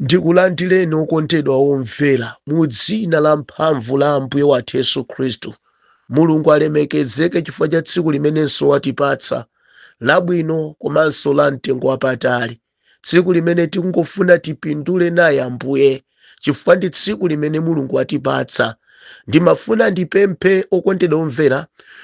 ndikulandireni okondedwa omvera mu dzina la mphamvu la ambuye wathu yesu khristu mulungu alemekezeke chifukwa cha tsiku limenenso watipatsa labwino komanso la mtengo wapatali tsiku limene tikungofuna tipindule naye ambuye chifukwa ndi tsiku limene mulungu watipatsa ndimafuna ndipemphe okondedwa omvera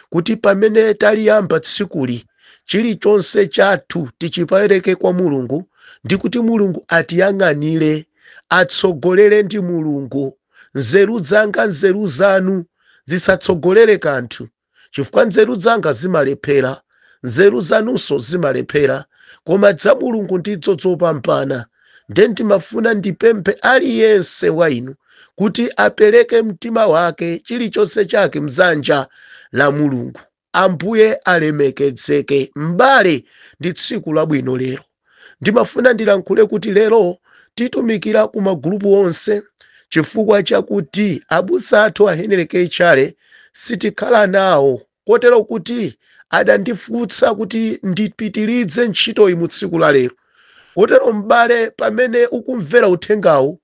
kuti pamene taliyamba tsikuli chilichonse chathu tichipereke kwa mulungu ndikuti mulungu atiyang'anire atsogolere ndi mulungu nzeru zanga nzeru zanu zisatsogolere kanthu chifukwa nzeru zanga zimalephera nzeru zanunso zimalephera koma dza mulungu ndidzo zopambana nde ndimafuna ndipemphe aliyense wa inu kuti apereke mtima wake chilichonse chake mdzanja la mulungu Ambuye alemekezeke. M'bale, ndi tsiku labwino lero. Ndimafuna ndilankhule kuti lero titumikira ku magulupu onse chifukwa chakuti abusa athu a Henry K. Chale sitikhala nawo kotero kuti adandifutsa kuti ndipitilize ntchitoyi mu tsiku la lero. Kotero m'bale, pamene ukumvera uthengawu,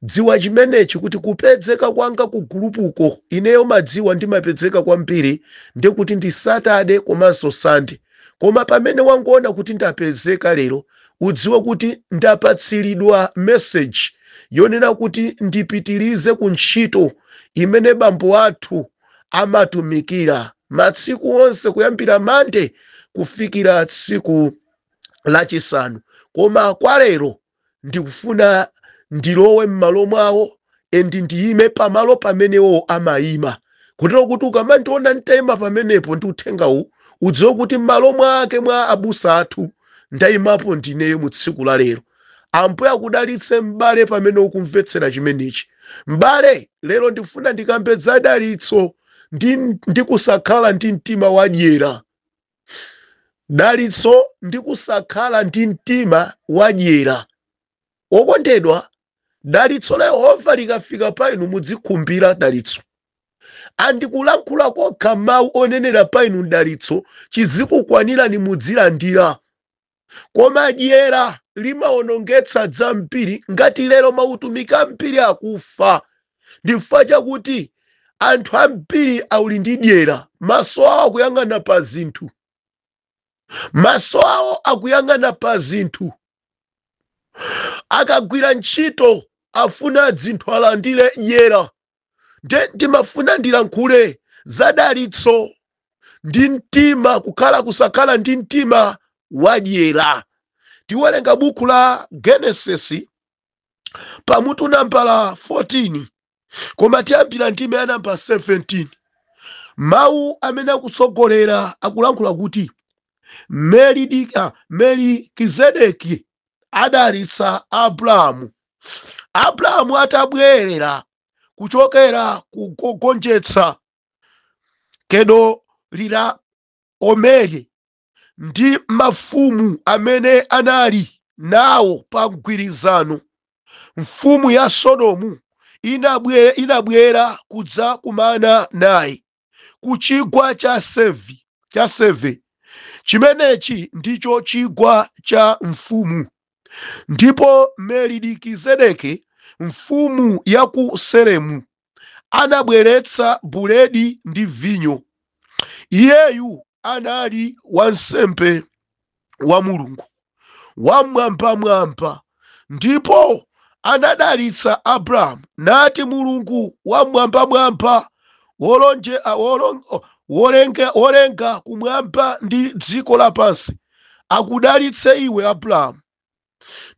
Dziwa chimenechi kuti kupedzeka kwanga ku gulupuko ineyo madziwa ndimapedzeka kwambiri ndi kuti ndi Saturday komanso Sunday koma pamene wangoona kuti ndapezeka lero udziwe kuti ndapatsilidwa message yonena kuti ndipitilize ku ntchito imene bambo athu amatumikira matsiku onse kuyambira Monday kufikira tsiku lachisanu koma kwa lero ndikufuna ndilowe m'malo mwawo and ndiyime pamalo pamenewo amayima kotero kuti ukamandiona nditayima pamenepo ndi uthengawu udziwe kuti m'malo mwake mwa abusa athu ndayimapo ndineyo mu tsiku la lero ambuye akudalitse m'bale pamene ukumvetsera chimenechi m'bale lero ndikufuna ndikambe za dalitso ndi kusakhala ndi mtima wadyera dalitso ndi kusakhala ndi mtima wadyera wokondedwa dalitso la yehova likafika pa inu mudzikhumbira dalitso andikulankhula kokha mawu onenera pa inu dalitso chizikukwanirani mudzilandira koma dyera limawonongetsa dzambiri ngati lero mautumiki ambiri akufa ndifukwa chakuti anthu ambiri auli ndi dyera maso awo akuyang'ana pa zinthu maso awo akuyang'ana pa zinthu akagwira ntchito afuna dzinthu alandire dyera nde ndimafuna ndilankhule za dalitso ndi mtima kukhala kusakhala ndi mtima wadyera tiwerenga buku la genesis pamutu nambala 14 koma tiyambira ndime ya namba 17 mawu amene akutsogolera akulankhula kuti melikizedeki adalitsa Abrahamu. Abrahamu atabwerera kuchokera kukagonjetsa Kedoliraomeri ndi mafumu amene anali nawo pa mgwirizano, mfumu ya Sodomu inabwera kudzakumana naye. ku chigwa cha Sevi, cha Seve. Chimenechi ndicho chigwa cha mfumu. Ndipo Melikizedeki, mfumu ya ku Selemu, anabweretsa buledi ndi vinyo. Iyeyu anali wansembe. wa mulungu wamwambamwamba ndipo anadalitsa abrahamu nati mulungu wamwambamwamba wolonje a- wolon- o- wolenga wolenga kumwamba ndi dziko lapansi akudalitse iwe abrahamu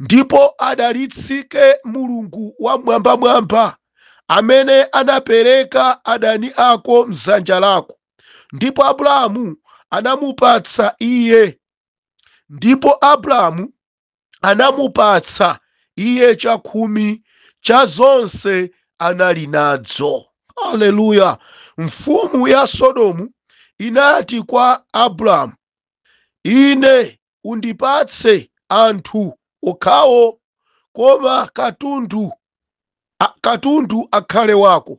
ndipo adalitsike mulungu wamwambamwamba amene anapereka adani ako mdzanja lako ndipo abrahamu anamupatsa iye ndipo abrahamu anamupatsa iye chakhumi cha zonse anali nadzo haleluya mfumu ya sodomu inati kwa abrahamu ine undipatse anthu okhawo koma katundu, a, katundu akhale wako.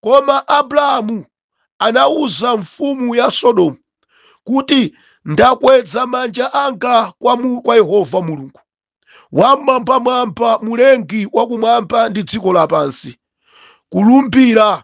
Koma Abrahamu anauza mfumu ya Sodomu kuti, Ndakweza manja anga kwa, mu, kwa Yehova Mulungu wam'mwambamwamba, mulengi wa kumwamba ndi dziko lapansi, kulumbira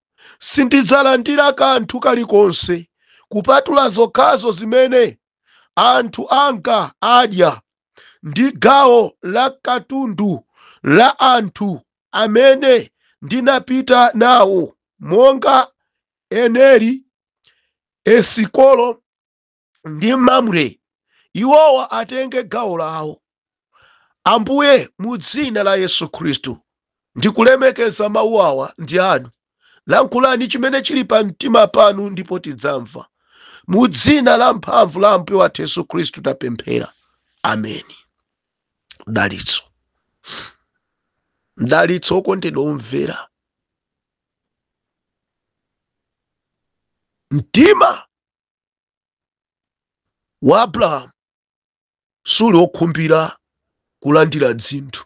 sindidzalandira kanthu kalikonse kupatula zokhazo zimene anthu anga adya ndi gawo la katundu la anthu amene ndinapita nawo monga eneri esikolo ndi Mamre, iwowa atenge gawo lawo. Ambuye, mu dzina la Yesu Khristu, ndikulemekeza mawu awa ndi anu. Lankhulani chimene chili pa mtima panu ndipo tidzamva. Mu dzina la mphamvu la Ambuye wathu Yesu Khristu tapemphera. Ameni. Mdalitso. Mdalitso okondedwa omvera. Mtima wa abrahamu suli wokhumbira kulandira dzinthu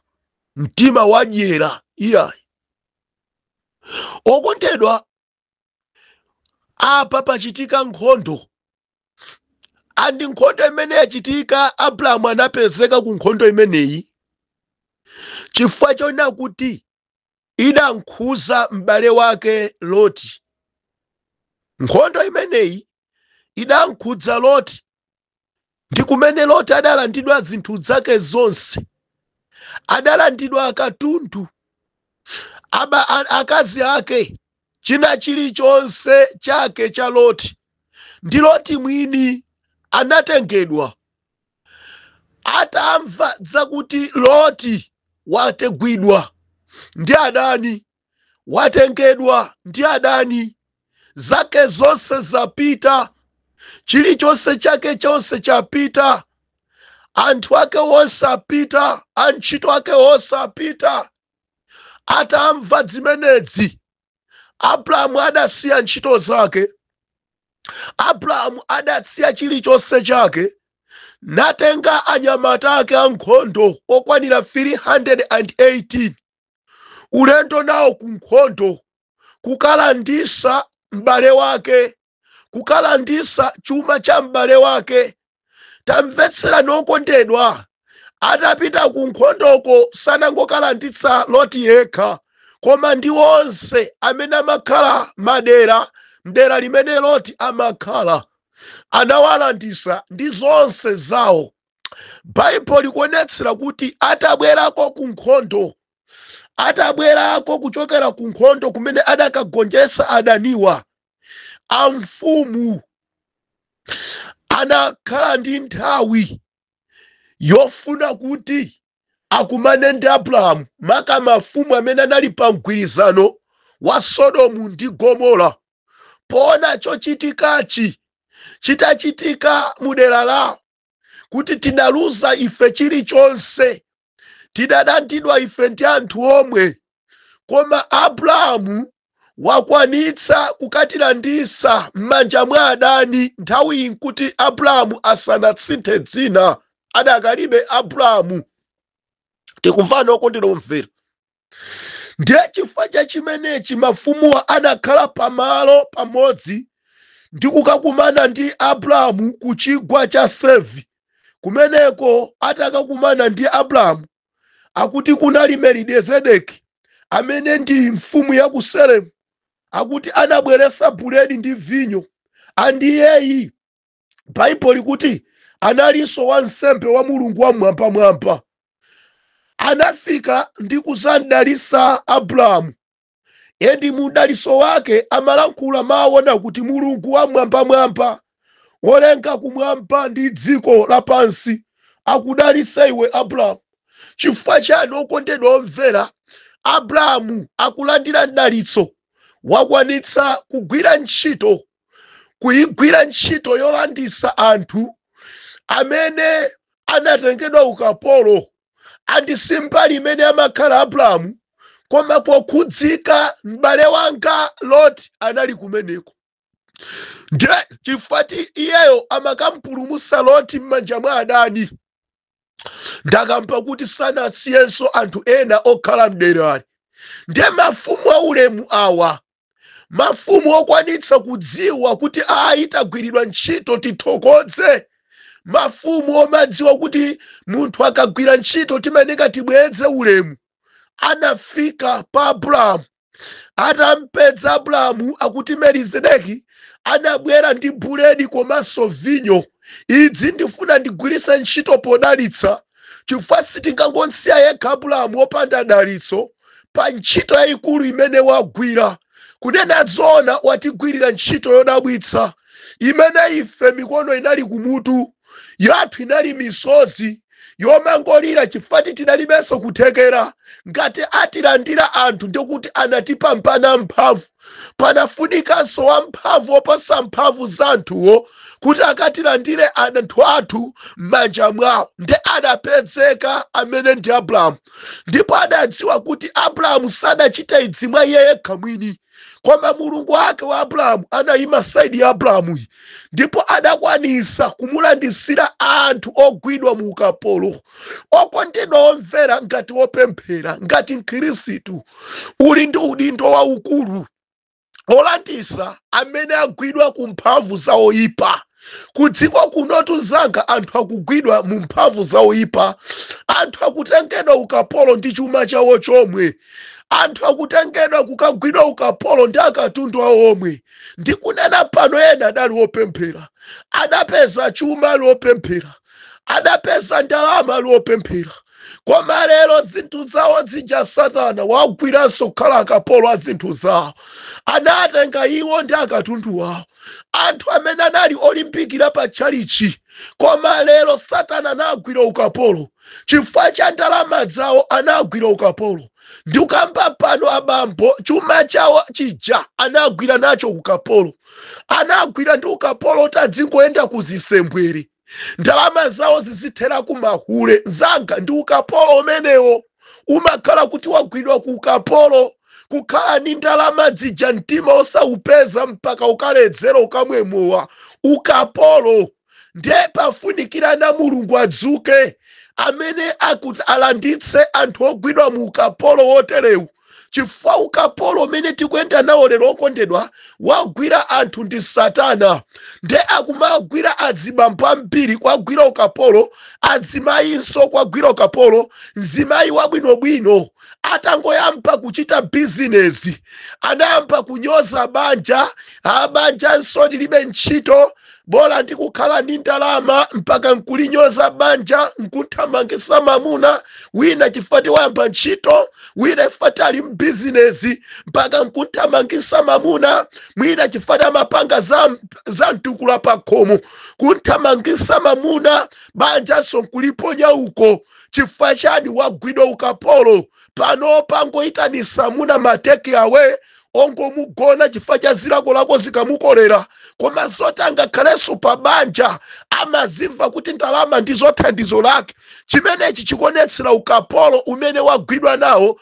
mtima wadyera iyayi okondedwa apa pachitika nkhondo andi nkhondo imene yachitika abrahamu anapezeka ku nkhondo imeneyi chifukwa chonena kuti idankhuza m'bale wake Loti. Nkhondo imeneyi idankhudza Loti ndi kumene Loti adalandidwa zinthu zake zonse, adalandidwa katundu, akazi ake, china chilichonse chake cha Loti ndi Loti mwini anatengedwa. atamva zakuti loti wategwidwa ndi adani watengedwa ndi adani zake zonse zapita chilichonse chake chonse chapita anthu ake wonse apita antchito ake wonse apita atamva zimenezi abrahamu adasiya ntchito zake abrahamu adasiya chilichonse chake natenga anyamata ake ankhondo okwanira 318 ulendo nawo ku nkhondo kukalandisa m'bale wake kukalandisa chuma cha m'bale wake tamvetserani okondedwa atapita ku nkhondoko sanangokalanditsa loti yekha koma ndi onse amene amakhala madera mdera limene loti amakhala anawalandisa ndi zonse zawo baibulo likuonetsera kuti atabwerako ku nkhondo atabwerako kuchokera ku nkhondo kumene adakagonjetsa adaniwa amfumu anakhala ndi nthawi yofuna kuti akumane ndi abrahamu maka mafumu amene anali pa mgwirizano wa sodomu ndi gomora poona chochitikachi chitachitika mu dera lawo kuti tidaluza ife chilichonse tidalandidwa ife ndi anthu omwe koma abrahamu wakwanitsa kukatilandisa m'manja mwa adani nthawiyi nkuti abrahamu asanatsinthe dzina adakalibe abrahamu tikumvana okondedwa omvera ndiye chifukwa cha chimenechi mafumuwa anakhala pamalo pamodzi ndi kukakumana ndi abrahamu ku chigwa cha sevi kumeneko atakakumana ndi abrahamu akuti kunali melikizedeki amene ndi mfumu ya ku salemu akuti anabweretsa buledi ndi vinyo andi iyeyi baibulo likuti analinso wansembe wa mulungu wamwambamwamba anafika ndi kuzamdalisa abrahamu endi mu mdaliso wake amalankhula mawu ona kuti mulungu wamwambamwamba wolenga kumwamba ndi dziko lapansi akudalitse iwe abrahamu chifukwa chani okondedwa omvera abrahamu akulandira mdalitso wakwanitsa kugwira ntchito kuigwira ntchito yolandisa anthu amene anatengedwa ukapolo andi simbali imene amakhala abrahamu koma pokhudzika m'bale wanga loti anali kumeneko ndiye chifukwa choti iyeyo amakampulumusa loti m'manja mwa adani adakamba kuti sanasiyenso anthu ena okhala mderali ndiye mafumu aulemu awa mafumu okwanitsa kudziwa kuti ayi tagwiridwa ntchito tithokoze mafumu omadziwa kuti munthu akagwira ntchito timayeneka tibweze ulemu anafika pa abrahamu atampedza abrahamu akuti melikizedeki anabwera ndi buledi komanso vinyo idzi ndifuna ndigwiritse ntchito podalitsa chifukwa sitingangomsiya yekha abrahamu opanda dalitso pa ntchito yayikulu imene wagwira kunena zoona watigwirira ntchito yodabwitsa imene ife mikono inali kumutu yathu inali misozi yomangolira chifukwa tidalibenso kuthekera. Ngati atilanda anthu ndiye kuti anatipambana mphamvu. Panafunikanso wamphamvu woposa mphamvu za anthuwo kuti akatilandire anthu athu m'manja mwawo. Ndiye adapedzeka amene ndi Abrahamu. Ndipo adadziwa kuti Abrahamu sadachita idzi mwa iye yekha mwini. koma mulungu wake wa abrahamu anayima saidi ya abrahamuyi ndipo adakwanisa kumulandisira anthu ogwidwa mu ukapolo okondedwa omvera ngati wopemphera ngati mkhirisitu uli ndi udindo waukulu olandisa amene agwidwa ku mphamvu za woyipa kudziko kunotu nzanga anthu akugwidwa mu mphamvu za oyipa anthu akutengedwa ukapolo ndi chuma chawo chomwe anthu akutengedwa kukagwidwa ukapolo ndi akatundu awo womwe ndikunena pano ena adali opemphera adapeza chuma ali opemphera adapeza ndalama ali opemphera koma lero zinthu zawo zija satana wagwiranso kukhala akapolo a zinthu zawo anatenga iwo ndi akatundu wawo anthu amene anali olimbikira pa tchalichi koma lero satana anagwira ukapolo chifukwa cha ndalama zawo anagwira ukapolo ndikukamba pano abambo chuma chawo chija anagwira nacho ukapolo anagwira ndi ukapolo oti adzingoyenda ku zisembwere ndalama zawo zizithera ku mahule mzanga ndi ukapolo umenewo umakhala kuti wagwidwa ku ukapolo kukhala ni ndalama dzija mtima osawupeza mpaka ukaledzera ukamwe mowa ukapolo ndiye pafunikira na Mulungu adzuke amene ati alanditse anthu ogwidwa mu ukapolo woterewu chifukwa ukapolo umene tikuyenda nawo lero okondedwa wagwira anthu ndi satana nde akumagwira adzibambo ambiri kwagwira ukapolo adzimayinso kwagwira ukapolo mzimayi wabwinobwino atangoyamba kuchita bizinezi anayamba kunyoza banja banjanso lilibe ntchito bola ndikukhala ni ndalama mpaka nkulinyoza banja nkuthamangisa mamuna wina chifati wayamba ntchito wina chifati ali mbizinesi mpaka nkuthamangisa mamuna mwina chifati amapanga za mtukula pakhomo kuthamangisa mamuna banjanso nkuliponya uko chifukwa chani wagwidwa ukapolo pano pangoyitanisa amuna mateki awe ongomugona chifukwa cha zilakolako zikamukolera koma zoti angakhalenso pa banja amazimva kuti ndalama ndizo thandizo lake chimenechi chikuonetsera ukapolo umene wagwidwa nawo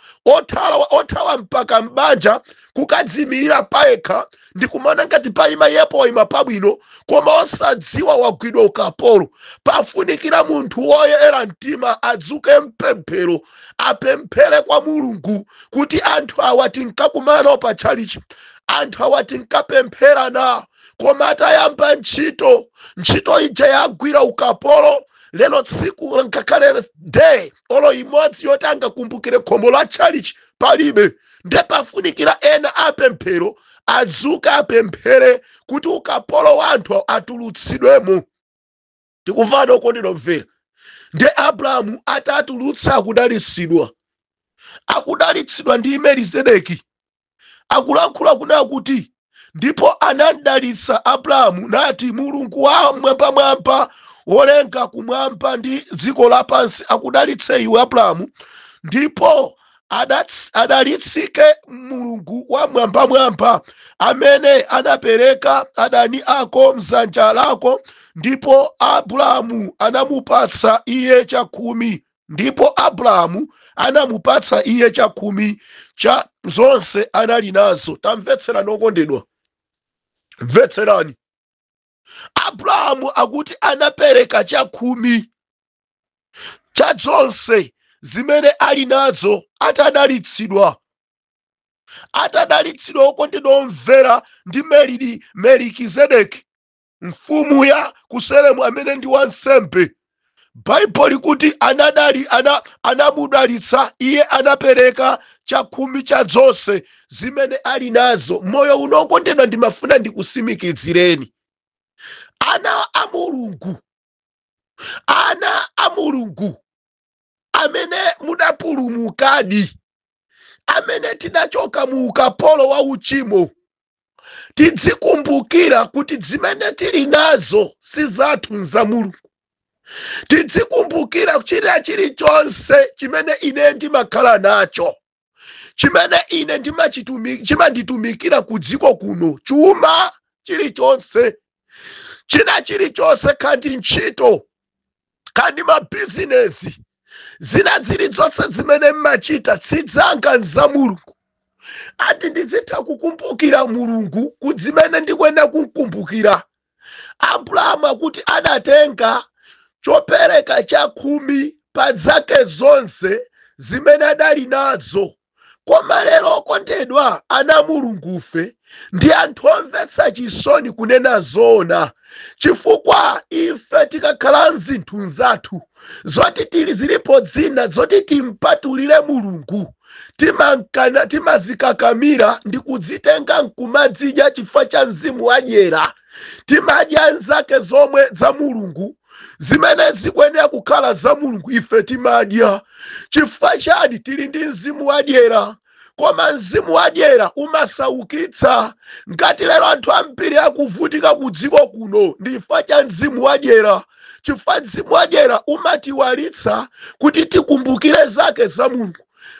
othawa mpaka m'banja kukadzimirira payekha ndi kumaona ngati paima iyepo waima pabwino koma osadziwa wagwidwa ukapolo pafunikira munthu woyera mtima adzuke mpemphero apemphere kwa mulungu kuti anthu awa tinkakumana nawo pa tchalichi anthu awa tinkapemphera nawo koma atayamba ntchito ntchito ija yagwira ukapolo lero tsiku ngakhale day olo imodzi yoti angakumbukire khomo la tchalichi palibe nde pafunikira ena apemphero adzuke apemphere kuti ukapolo wa anthu atulutsidwemo tikumvana okondedwa omvera nde abrahamu atatulutsa akudalitsidwa akudalitsidwa ndi melizedeki akulankhula kunena kuti ndipo anamdalitsa abrahamu nati mulungu wa mwambamwamba wolenga kumwamba ndi dziko lapansi akudalitse iwe abrahamu ndipo adalitsike mulungu wamwambamwamba amene anapereka adani ako mzanja lako ndipo abrahamu anamupatsa iye chakhumi ndipo abrahamu anamupatsa iye chakhumi cha zonse anali nazo tamvetserani okondedwa mvetserani abrahamu akuti anapereka chakhumi cha zonse zimene ali nazo atadalitsidwa atadalitsidwa okondedwa omvera ndi melidi melikizedeki mfumu ya kuselemu amene ndi wansembe baibulo likuti anadali anamudalitsa iye anapereka chakhumi cha zonse zimene ali nazo moyo uno okondedwa ndimafuna ndikutsimikizireni ana a mulungu ana a mulungu amene mudapulumukadi amene tidachoka mu ukapolo wa uchimo tidzikumbukira kuti zimene tili nazo si zathu nza mulungu tidzikumbukira china chilichonse chimene ine ndimakhala nacho chimene ine chimanditumikira ku dziko kuno chuma chilichonse china chilichonse kaya ndi ntchito kaya ndi mabizinesi zina zilizonse zimene mmachita si zanga nza mulungu ati ndizitha kukumbukira mulungu ku zimene ndikuyenera kukumbukira Abrahamu akuti adatenga chopereka chakhumi pa zake zonse zimene adali nazo. Koma lero, okondedwa ana a Mulungufe, ndi anthu omvetsa chisoni kunena zoona, chifukwa ife tikakhala mzinthu zathu, zoti tili zilipo zina zoti timpatulire mulungu timakana timazikakamira ndi kuzitenga nkumazidya chifukwa cha mzimu wadyera timadya nzake zomwe za mulungu zimene zikuyenera kukhala za mulungu ife timadya chifukwa chani tili ndi mzimu wadyera koma mzimu wadyera umasaukitsa ngati lero anthu ambiri akuvutika ku dziko kuno ndi chifukwa cha mzimu wadyera chifukwa mzimu wadyera umatiwalitsa kuti tikumbukire zake za mulungu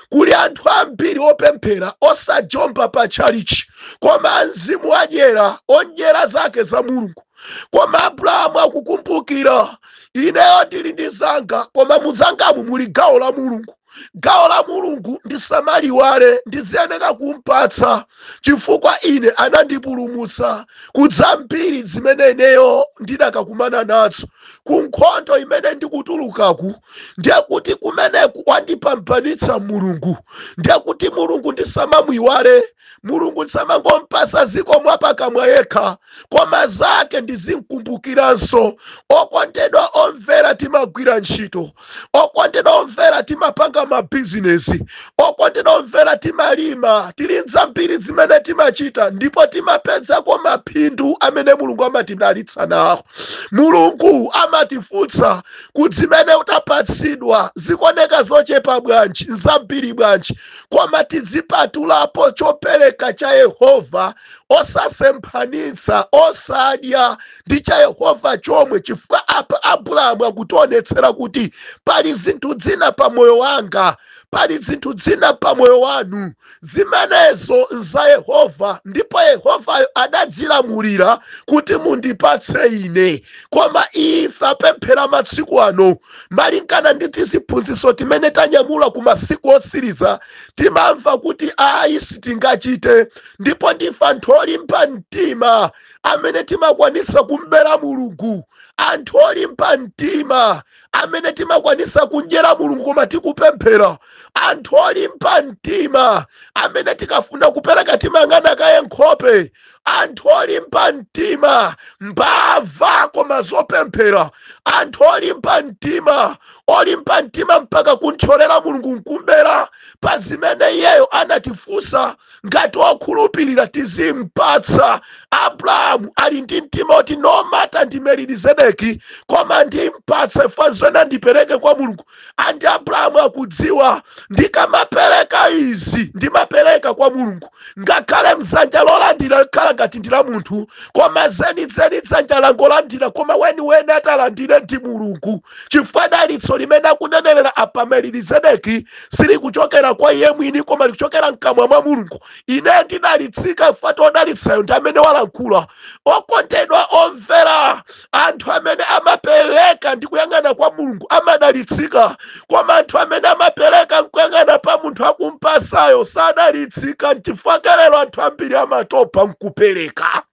kuli anthu ambiri opemphera osajomba pa tchalichi koma mzimu wadyera ondyera zake za mulungu koma abrahamu akukumbukira ineyo ndili ndi zanga koma muzangamu muli gawo la mulungu gawo la mulungu ndisamaliwale ndiziyeneka kumpatsa chifukwa ine anandipulumutsa ku zambiri zimene ineyo ndidakakumana nazo ku nkhondo imene ndikutulukaku ndiye kuti kumeneku wandipambanitsa mulungu ndiye kuti mulungu ndisamamuiwale mulungu nsamangompasa zikomo wapakamwa yekha koma zake ndizinkumbukiranso okondedwa omvera timagwira ntchito okondedwa omvera timapanga mabizinesi okondedwa omvera timalima tili nzambiri zimene timachita ndipo timapezako maphindu amene mulungu amatidalitsa nawo mulungu amatifunsa kuti zimene utapatsidwa zikuoneka zochepa bwanji nzambiri bwanji koma tidzipatulapo chopereka cha yehova osasemphanitsa osadya ndi cha yehova chomwe chifukwa apa abrahamu akutionetsera kuti pali zinthu zina pa moyo wanga pali zinthu zina pa moyo wanu zimenezo nza yehova ndipo yehovayo adadzilamulira kuti mundipatse ine koma ife apemphera masiku ano malingana ndi tiziphunzitso timene tanyamula ku masiku otsiriza timamva kuti ayi sitingachite ndipo ndife anthu olimba mtima amene timakwanitsa kumbera mulungu anthu olimba mtima amene timakwanitsa kundyera mulungu koma tikupemphera anthu olimba mtima amene tikafuna kupereka timayang'ana kaye nkhope anthu olimba mtima mbava koma zopemphera anthu olimba mtima olimba mtima mpaka kuntcholera mulungu nkumbera pa zimene iyeyo anatifunsa ngati okhulupirira tizimpatsa abrahamu ali ndi mtima oti no matter ndi melkizedeki koma ndimpatse fanzo ena ndipereke kwa mulungu and abrahamu akudziwa ndikamapereka izi ndimapereka kwa mulungu ngakhale dzanja lolandira likhala ngati ndi la munthu koma zenizeni dzanja langolandira koma weniweni atalandire ndi mulungu chifukwa dalitso limene akunenerera apa melkizedeki silikuchokera kwa iye mwini koma likuchokera mkamwa mwa mulungu ine ndidalitsika chifukwa odalitsayo ndi amene walankhula okondedwa omvera anthu amene amapereka ndi kuyang'ana kwa mulungu amadalitsika koma anthu amene amapereka nkuyang'ana pa munthu akumpasayo sadalitsika nchifukwa chake lero anthu ambiri amatopa nkupereka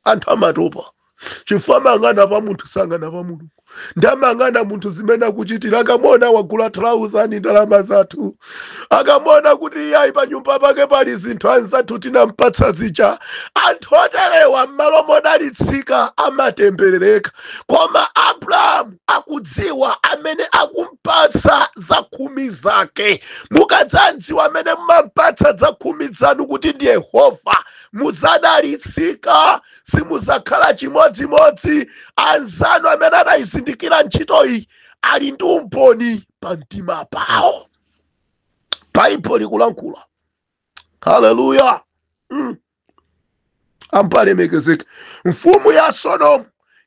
anthu amatopa chifukwa amayang'ana pa munthu sayang'ana pa mulungu ndiye amayang'ana munthu zimene akuchitira akamuona wagula trauza ni ndalama zathu akamuona kuti iyayi pa nyumba pake pali zinthu anzathu tinampatsa zija anthu oterewa m'malo modalitsika amatemberereka koma abrahamu akudziwa amene akumpatsa zakhumi zake mukadzamdziwa amene mumampatsa zakhumi zanu kuti ndi yehova mudzadalitsika simudzakhala chimodzimodzi anzanu amene anayizindikira ntchito iyi ali ndi umboni pa mtima pawo baibulo likulankhula haleluya ambuye alemekezeke mfumu ya sodomu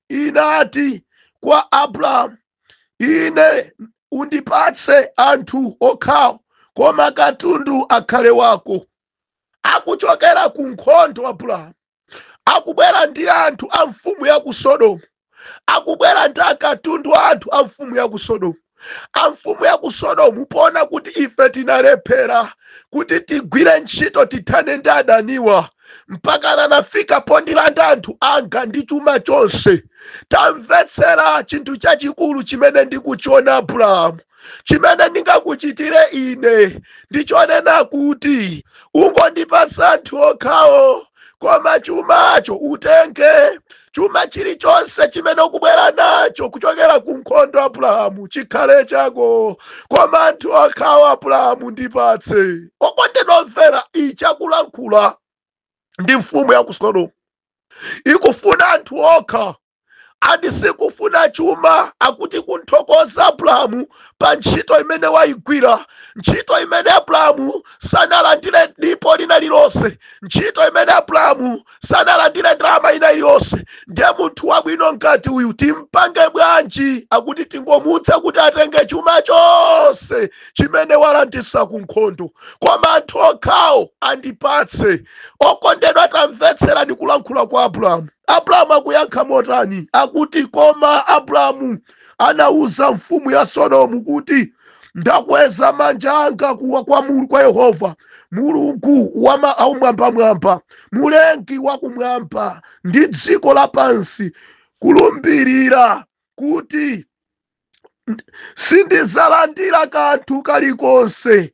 inati kwa abrahamu ine undipatse anthu okhawo koma katundu akhale wako akuchokera ku nkhondo abrahamu akubwera ndi anthu a mfumu ya ku sodomu akubwera ndi akatundu a anthu a mfumu ya ku sodomu a mfumu ya ku sodomu poona kuti ife tinalephera kuti tigwire ntchito tithane ndi adaniwa mpakana anafika pondilanda anthu anga ndi chuma chonse tamvetsera chinthu chachikulu chimene ndikuchiona abrahamu chimene ndingakuchitire ine ndichonena kuti ungondipatsa anthu okhawo koma chumacho utenge chuma chilichonse chimene ukubwera nacho kuchokera ku nkhondo abrahamu chikhale chako koma anthu okhawo abrahamu ndipatse okondedwa omvera ichi akulankhula ndi mfumu ya ku sodomu ikufuna anthu okha and sikufuna chuma akuti kunthokoza abrahamu pa ntchito imene waigwira ntchito imene abrahamu sanalandire dipo lina lilonse ntchito imene abrahamu sanalandire ndalama ina iliyonse ndiye munthu wabwino ngati uyu timpange bwanji akuti tingomuuza kuti atenge chuma chonse chimene walanditsa ku nkhondo koma anthu okhawo andipatse okondedwa tamvetserani kulankhula kwa abrahamu Abrahamu akuyankha motani? Akuti, Koma Abrahamu anauza mfumu ya Sodomu kuti, Ndakweza manja anga kwa Yehova, Mulungu wa kumwambamwamba, Mulengi wa kumwamba ndi dziko lapansi, kulumbirira kuti sindizalandira kanthu kalikonse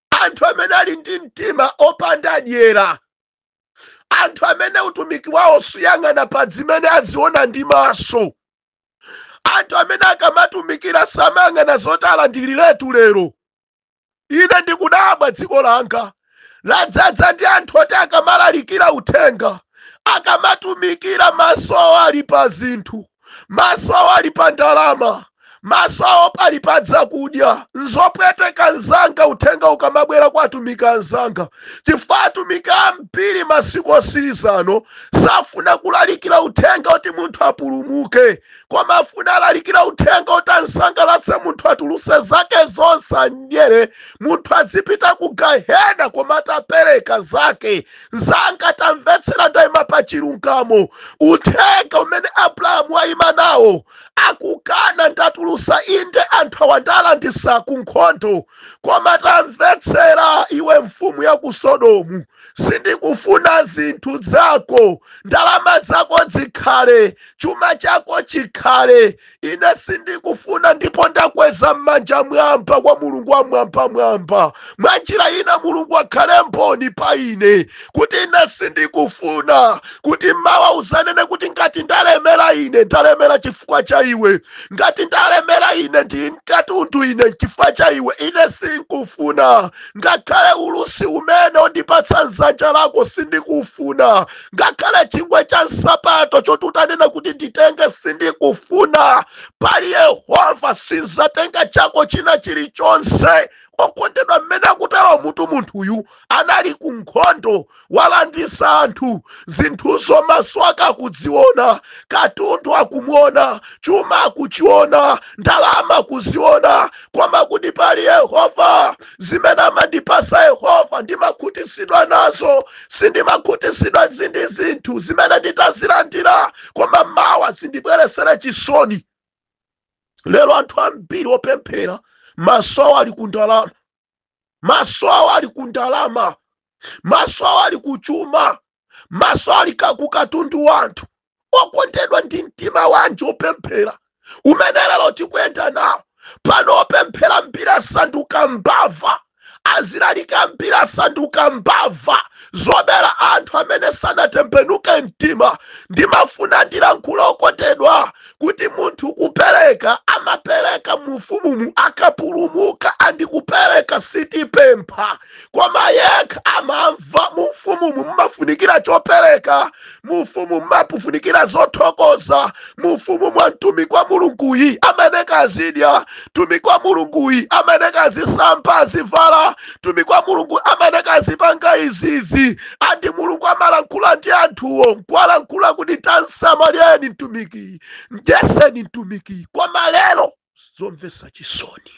anthu amene ali ndi mtima opanda dyera anthu amene utumiki wawo suyang'ana pa zimene aziona ndi maso anthu amene akamatumikira samayang'ana zoti alandiriretu lero ine ndikudabwa dziko langa ladzaza ndi anthu oti akamalalikira uthenga akamatumikira maso awo ali pa zinthu maso awo ali pa ndalama maso awo pali pa zakudya nzopweteka nzanga uthenga ukamabwera kwa atumiki anzanga chifukwa atumiki ambiri masiku osirizano safuna kulalikira uthenga oti munthu apulumuke koma afuna alalikira uthenga oti ansangalatse munthu atuluse zake zonse amdyere munthu adzipita ku gahena koma atapereka zake nzanga tamvetsera ndaima pa chilungamo uthenga umene abrahamu waima nawo akukana ndatulusa inde anthu awa ndalanditsa ku nkhondo koma tamvetsera iwe mfumu ya ku sodomu sindikufuna zinthu zako ndalama zako zikhale chuma chako chikhale ine sindikufuna ndipo ndakweza m'manja mwamba kwa mulungu wa mwambamwamba mwa njira ina mulungu akhale mboni pa ine kuti ine sindikufuna kuti mawa uzanene kuti ngati ndalemera ine ndalemera chifukwa cha iwe ngati ndalemera ine ndili ndi katundu ine chifukwa cha iwe ine sindikufuna ngakhale ulusi umene undipatsa m'dzanja lako sindikufuna ngakhale chingwe cha nsapato choti utanena kuti nditenge sindikufuna pali yehova sinzatenga chako china chilichonse okondedwa mmene akutero mutu munthuyu anali ku nkhondo walanditsa anthu zinthuzo maso ake akudziona katundu akumuona chuma akuchiona ndalama akuziona koma akuti pali yehova zimene amandipasa yehova ndimakhutisidwa nazo sindimakhutisidwa ndi zinthu zimene nditazilandira koma mawa zindibweresere chisoni lero anthu ambiri opemphera maso awo ali ku ndalama maso awo ali ku ndalama maso awo ali ku chuma maso ali ka- ku katundu wa anthu okondedwa ndi mtima wanji opemphera umene lero tikuyenda nawo pano opemphera ambiri asanduka mbava azilaliki ambiri asanduka mbava zobera anthu amene sanatembenuke mtima ndimafuna ndilankhule okondedwa kuti munthu kupereka amapereka mu ufumumu akapulumuka and kupereka sitipempha koma yekha amamva mufumumu mumafunikira chopereka mufumu mumafunikira zothokoza mufumu mwa mtumiki wa mulunguyi amene kazidya mtumiki wa mulunguyi amene kazisamba azivala mtumiki wa mulungu amene kazipanga izizi andi mulungu amalankhula ndi anthuwo nkuwalankhula kuti tamsamalireni mtumiki mdyeseni mtumiki koma lero zomvetsa chisoni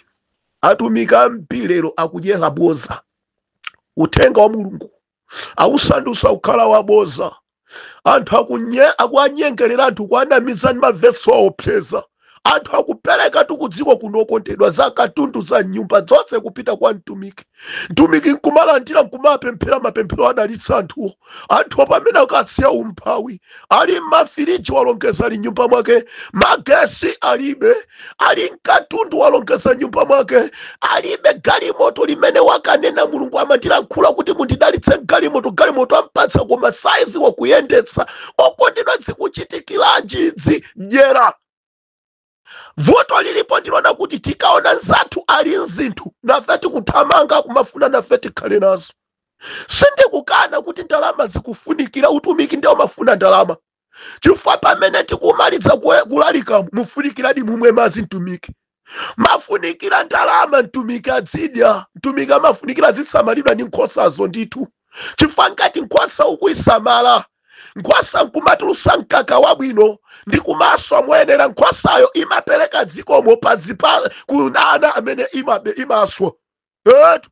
atumiki ambiri lero akudyera boza uthenga wa mulungu awusandusa kukhala waboza anthu akuwanyengerera anthu kuwanamiza ndi mavesi awaopseza anthu akupereka tikudziko kuno okondedwa za katundu za mnyumba zonse kupita kwa mtumiki mtumiki nkumalandira nkumapemphera mapemphero adalitsa anthuwo anthuwo pamene akasiya umphawi ali nmafiriji walongeza ali mnyumba mwake magesi alibe ali nkatundu walongeza mnyumba mwake alibe galimoto limene wakanena mulungu amandilankhula kuti mundidalitse galimoto galimoto ampatsa koma sadzi wakuyendetsa okondedwa zikuchitikiranji idzi dyera vuto lilipo ndilonena kuti tikaona nzathu ali nzinthu nafe tikuthamanga kumafuna nafe tikhale nazo sindikukana kuti ndalama zikufunikira utumiki ndi umafuna ndalama chifukwa pamene tikumaliza kue- kulalika mufunikiradi mumwe madzi mtumiki amafunikira ndalama mtumiki adzidya mtumiki amafunikira azisamalidwa ndi nkhosazo ndithu chifukwa ngati nkhosa ukuisamala nkhosa nkumatulutsa mkaka wabwino ndi kumaswa moyenera nkhosayo imapereka zikomo pa zipa ku ana amene imabe imaswa etu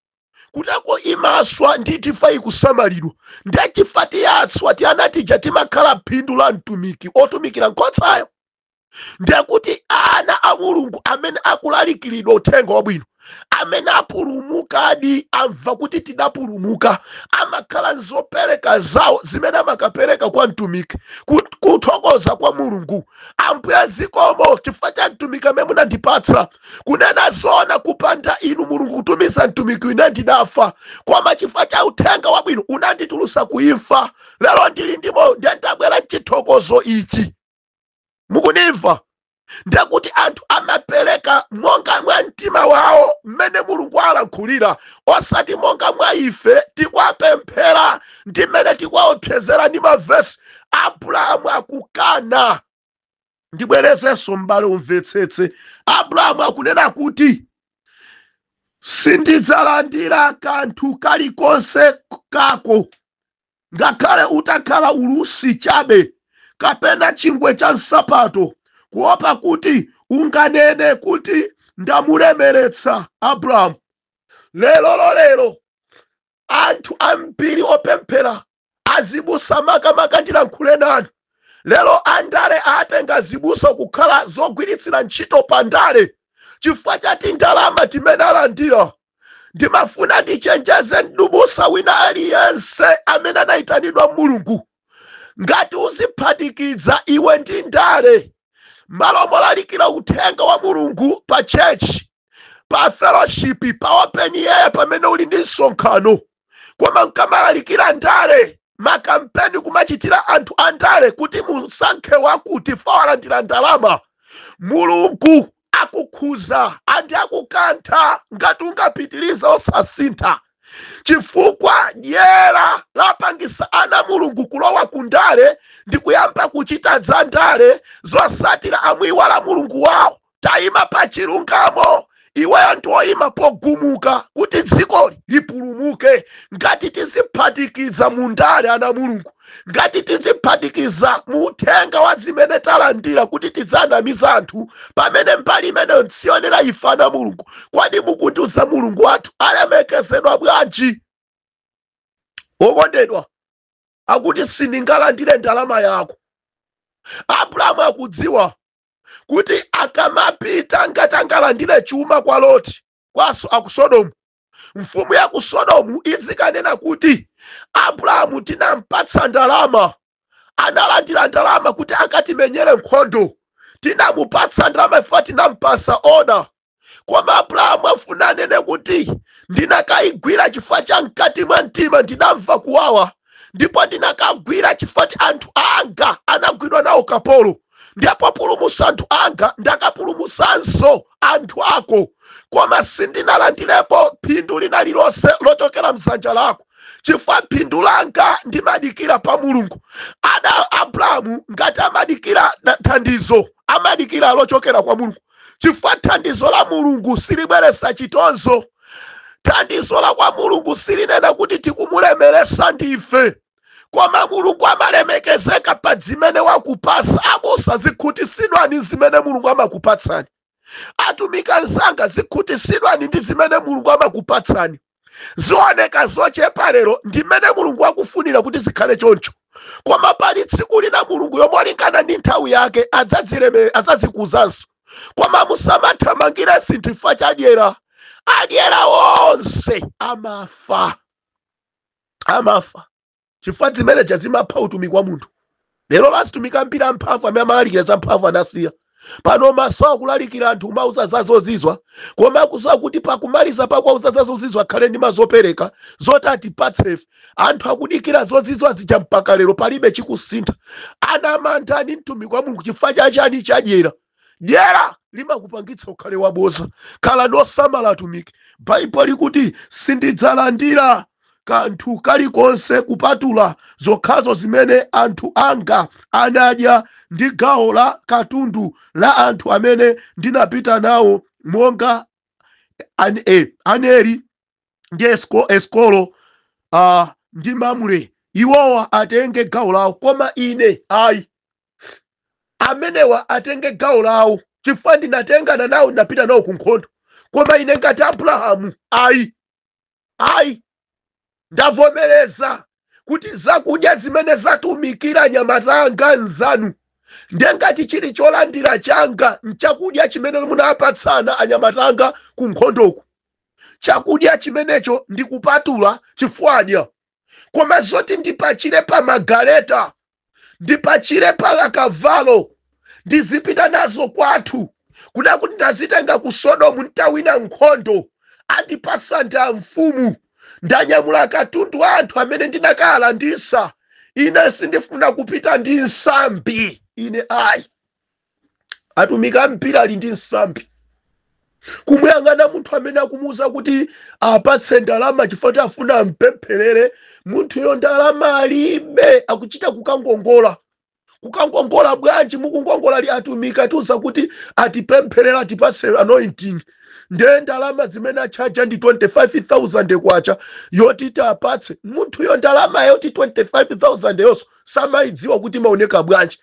kutako imaswa ndi tifa ikusamalidwa ndiye chifa tiaswa tiana tija timakhala phindu la mtumiki otumikira nkhosayo ndekuti ana a mulungu amene akulalikiridwa uthenga wabwino amene apulumukadi amva kuti tidapulumuka amakhala nzopereka zawo zimene amakapereka kwa mtumiki kut- kuthokoza kwa mulungu ambuye zikomo chifukwa cha mtumiki amene munandipatsa kunena zoona kupanda inu mulungu kutumiza mtumiki ine ndidafa koma chifukwa cha uthenga wabwino unanditulutsa kuimfa lero ndili ndi moyo ndiye ndabwera nchithokozo ichi mukundimva ndekuti anthu amapereka monga mwa mtima wawo mmene mulungu alankhulira osati monga mwa ife tikuwapemphera ndi mmene tikuwaopsezera ndi mavesi abrahamu akukana ndibwerezenso m'bale umvetsetse abrahamu akunena kuti sindidzalandira kanthu kalikonse kako ngakhale utakhala ulusi chabe kapena chingwe cha nsapato, kuopa kuti unganene kuti ndamulemeretsa Abramu. Lero lolero anthu ambiri opemphera azibusa makamaka ndilankhule nanu lero andale atenga azibusa kukhala zogwiritsira ntchito pa ndale chifukwa cha tindalama timene alandira ndimafuna ndichenjeze m'busa wina aliyense amene anayitanidwa mulungu ngati uziphatikiza iwe ndi ndale malo molalikira uthenga wa mulungu pa tchetchi pa fellowship pa open air pamene uli ndi msonkhano koma ukamalalikira ndale makampeni kumachitira anthu a ndale kuti musankhe wakuti chifukwa walandira ndalama mulungu akukhuza andi akukantha ngati ungapitirize osasintha chifukwa dyera lapangisa ana a mulungu kulowa ku ndale ndi kuyamba kuchita za ndale zotsatira amuiwala mulungu wawo taima pa chilungamo iweyo ndi woima pogumuka kuti dzikoli lipulumuke ngati tiziphatikiza mu ndale ana a mulungu ngati tiziphatikiza mu uthenga wa zimene talandira kuti tiziwanamiza anthu pamene mbali imeneyo siyoyenera ife ana a mulungu kodi mukundiuza mulungu wathu alemekezedwa bwanji okondedwa akuti sindingalandire ndalama yako abrahamu akudziwa kuti akamapita ngati angalandire chuma kwa loti kwa so- aku sodomu mfumu ya ku sodomu izikanena kuti abrahamu tinampatsa ndalama analandira ndalama kuti akatimenyere nkhondo tinamupatsa ndalama chifukwa tinampasa oda koma abrahamu afuna anene kuti ndinakayigwira chifukwa cha mkati mwa mtima ndidamva kuwawa ndipo ndinakagwira chifukwa choti anthu anga anagwidwa nawo ukapolo ndiye populumusa anthu anga ndakapulumusanso anthu ako koma sindinalandirepo phindu lina lilonse lochokera m'dzanja lako chifukwa phindu langa ndimadikira pa mulungu ada abrahamu ngati amadikira thandizo amadikira lochokera kwa mulungu chifukwa thandizo la mulungu silibweretsa chitonzo thandizo la kwa mulungu silinena kuti tikumulemeresa ndife koma mulungu amalemekezeka pa zimene wakupasa abusa zikhutisidwani ndi zimene mulungu amakupatsani atumiki anzanga zikhutisidwani ndi zimene mulungu amakupatsani zioneka zochepa lero ndimene mulungu akufunira kuti zikhale choncho koma pali tsiku lina mulungu yemweyo molingana ndi nthawi yake adzadzileme- adzadzikuzanso koma musamathamangire zinthu chifukwa cha dyera adyera onse amafa amafa chifukwa zimeneja zimapha utumiki wa munthu lero atumiki ambiri amphamvu amene amalalikira za mphamvu anasiya pano m'maso akulalikira anthu kumauza za zozizwa koma akuziwa kuti pakumaliza pakuwauza za zozizwa akhale ndi mazopereka zoti atipatse ife anthu akudikira zozizwa zija mpaka lero palibe chikusintha anamantha ndi mtumiki wa mulungu chifukwa cha chani chadyera Dyera limakupangitsa ukhale waboza. Khalani osamala atumiki. Baibulo likuti sindidzalandira kanthu kalikonse kupatula zokhazo zimene anthu anga anadya ndi gawo la katundu la anthu amene ndinapita nawo monga Aneri. ndi Esko- eskolo uh, ndi mamre iwowa atenge gawo lawo koma ine ayi amenewa atenge gawo lawo chifukwa ndinatengana nawo ndinapita nawo ku nkhondo koma ine ngati abrahamu ayi ayi ndavomereza kuti zakudya zimene zatumikira anyamata anga nzanu ndiye ngati chili cholandira changa nchakudya chimene munapatsana anyamata anga ku nkhondoku chakudya chimenecho ndikupatula chifukwa adya. Koma zoti ndipachire pa magaleta, ndipachire pa akavalo, ndizipita nazo kwathu, kunena kuti ndazitenga ku Sodomu nditawina nkhondo, andipasa ndi amfumu, ndanyamula katundu wa anthu amene ndinakalandisa, ine sindifuna kupita ndi nsambi, ine ayi. atumiki ambiri ali ndi nsambi kumuyang'ana munthu amene akumuwuza kuti apatse ndalama chifukwa choti afuna ampempherere munthuyo ndalama alibe akuchita kukangongola kukangongola bwanji mukungongola ali atumiki atiuza kuti atipempherera atipatse anointing ndiye ndalama zimene atchaja ndi 25000 kwacha yoti tiwapatse munthuyo ndalama yoti 25000 yonso samayidziwa kuti imaoneka bwanji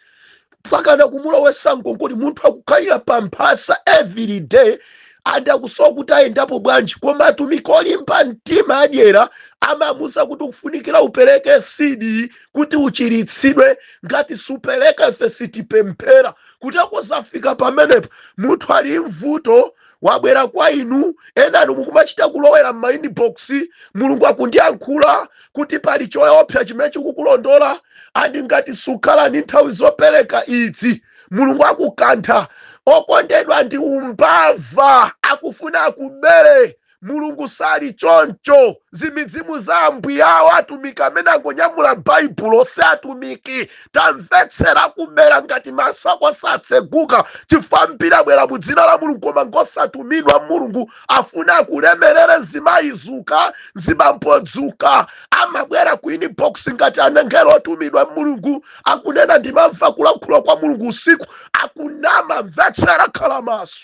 mpakana kumulowesa ngongole munthu akukhalira pa mphasa every day and akusowa kuti ayendapo bwanji koma atumiki olimba mtima adyera amamuuza kuti ukufunikira upereke seed kuti uchiritsidwe ngati supereka ife sitipemphera kuti akazafika pamenepo munthu ali m'vuto wabwera kwa inu enanu mukumachita kulowera m'mainbox mulungu akundiyankhula kuti pali choopsa chimene chikukulondola and ngati sukhala ndi nthawi zopereka idzi mulungu akukantha okondedwa ndi umbava akufuna akubere mulungu sali choncho zimizimu za ambuyawo atumiki amene angonyamula baibulo si atumiki tamvetsera kuberedwa ngati maso ako satseguka chifukwa ambiri abwera mu dzina la mulungu koma ngosatumidwa mulungu afuna akulemeretse mzimayi dzuka mzibambo dzuka amabwera ku inbox ngati angelo otumidwa mulungu akunena ndimamva kulankhula kwa mulungu usiku akunama mvetsera khala maso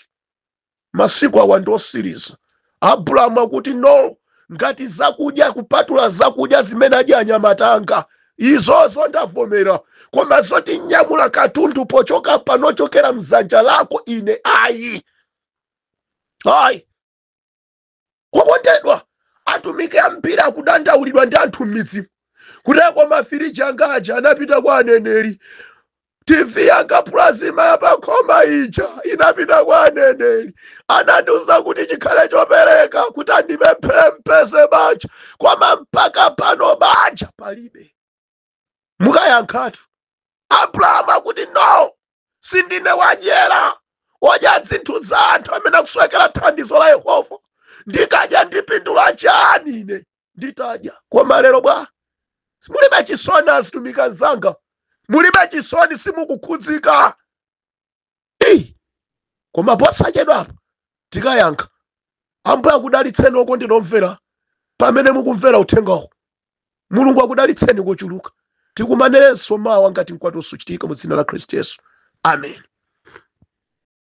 masiku awa ndi osiriza abrahamu akuti no ngati zakudya kupatula zakudya zimene adya anyamata anga izozo ndavomera koma zoti ndinyamule katundu pochoka pano chokera mzanja lako ine ayi ayi okondedwa atumiki ambiri akudandaulidwa ndi anthu m'midzi kuti mafiriji anga aja anapita kwa aneneri tv yanga plasma yapakhoma ija inapita kwa aneneri anandiuza kuti chikhale chopereka kuti andipempherere mpeze banja koma mpaka pano banja palibe mukayankhatu abrahamu akuti no sindine wadyera odya zinthu za anthu amene akusowekera thandizo la yehova ndikadya ndipindula chani ine nditadya koma lero bwa mulibe chisoni azitumiki anzanga mulibe chisoni simukukhudzika Ei! koma posachedwa apa tikayankha ambuye akudalitseni okondedwa omvera pamene mukumvera uthengawo mulungu akudalitseni kochuluka tikumanirenso mawa ngati mkwatulo suchitika mu dzina la khristu yesu amen